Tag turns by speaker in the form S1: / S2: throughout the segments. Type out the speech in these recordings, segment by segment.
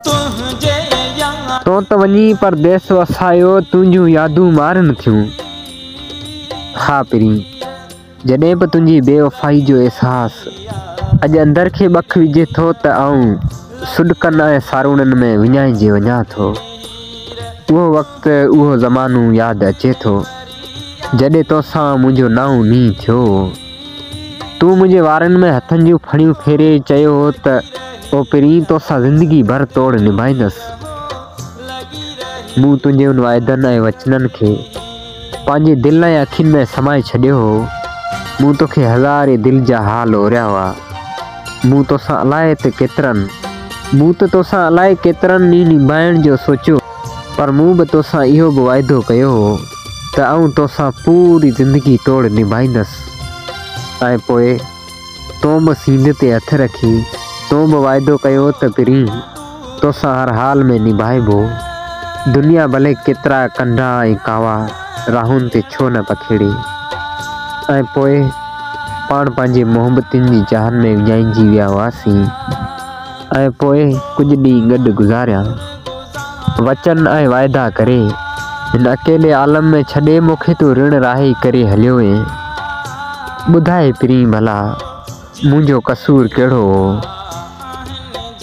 S1: تنهنجي ياد. تون ته وڃي پرديس وسايو تنهنجون يادون مارن ٿيون ها پرين جڏهن به تنهنجي بي وفائي جو احساس اڄ اندر کي ٻک وجهي ٿو ته آئون سڏڪن ۽ ساروڻن ۾ وڃائجي وڃان ٿو اهو وقت اهو زمانو ياد اچي ٿو جڏهن توسان منهنجو نانء نينهن ٿيو هو. تون منهنجي وارن ۾ هٿن جون ڦڙيون ڦيري چيو هو ته او پرين توسان زندگي ڀر توڙ نڀائيندس. مون تنهنجي ان وعدن ۽ وچنن کي پنهنجي دل ۽ اکين ۾ سمائي ڇڏيو هو. مون توکي هزارين دل جا حال اوريا هئا. مون توسان الائي ته ڪيترن مون ته توسان الائي ڪيترن ڏينهن نڀائڻ جو سوچيو پر مون به توسان اهو به وعدو ڪيو هو. ته آئون توسان پوري زندگي توڙ نڀائيندس ۽ پوء تون به سيني تي هٿ رکي تون به وعدو ڪيو ته پرين توسان هر حال ۾ نڀائبو، دنيا ڀلي ڪيترا ڪنڍا ۽ ڪاوا راهن تي ڇو نه پکيڙي ۽ پوء پاڻ پنهنجي محبتين جي جاهن ۾ وڃائجي ويا هئاسين ۽ پوء ڪجهه ڏينهن گڏ گذاريا. وچن ۽ واعدا ڪري، هن اڪيلي عالم ۾ ڇڏي مون کي تون رڻ راهي ڪري هليو وئين. ٻڌائي پرين ڀلا منهنجو قصور ڪهڙو هو،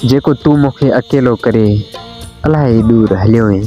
S1: جيڪو تون مون کي اڪيلو ڪري الاهي ڏور هليو وئين.